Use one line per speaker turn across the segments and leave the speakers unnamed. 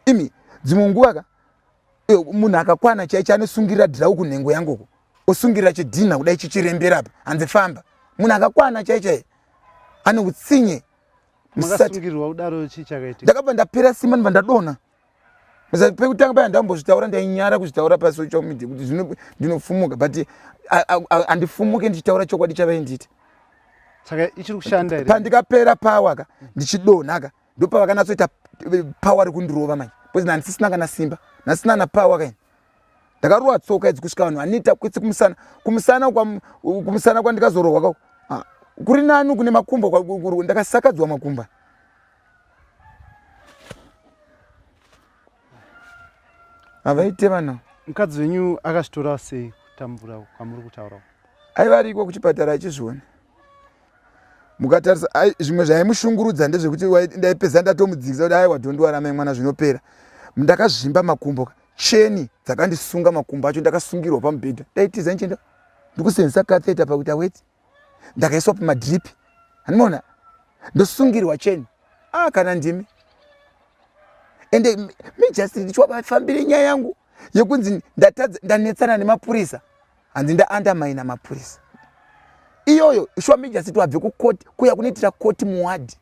imi dzimwe nguva ka eh, munhu akakwana chai chanosungirira dhirawo kunhengo yangoko osungirira chidhinha kudai chichirembera apa hanzi famba munhu akakwana chai chai ane utsinye
ndakabva ndapera simba
ndibva ndadona pekutanga paya ndambozvitaura ndainyara kuzvitaura pasocial media kuti zvino ndinofumuka but handifumuke ndichitaura chokwadi chavainditi saka
ichiri kushanda here pandikapera power ka
ndichidonha ka ndopavakanatsoita eh, power rekundirova manje because nandisisina kana simba nandisina na power kaini ndakarova tsoka idzi kusvika vanhu vanoita kwese kumusana kumusana kumusana kwandikazorohwa ka ah, kuri nani kune makumba ndakasakadzwa makumba havaite vana mukadzi wenyu
akazvitora sei kutambura kwamuri kutaura aivariko
kuchipatara achizviona mukatarisa zvimwe zvaimushungurudza ndezvekuti ndaipedza ndatomudzikisa kuti aiwa dhondiwaramai mwana zvinopera ndakazvimba makumbo ka cheni dzakandisunga makumbo acho ndakasungirwa pamubhedha ndaitiza ndichenda ndikusenzesa katheta pakuita weti ndakaiswa pamadripi handimaona ndosungirwa cheni a ah, kana ndimi ende me just ndichiwabafambire nyaya yangu yekunzi ndatadza ndanetsana nemapurisa hanzi ndaandamaina mapurisa iyoyo shuwa mejasiti wabve kukoti kuya kunoitira koti muwadhi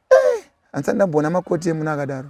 eh, handisati ndamboona makoti emuno akadaro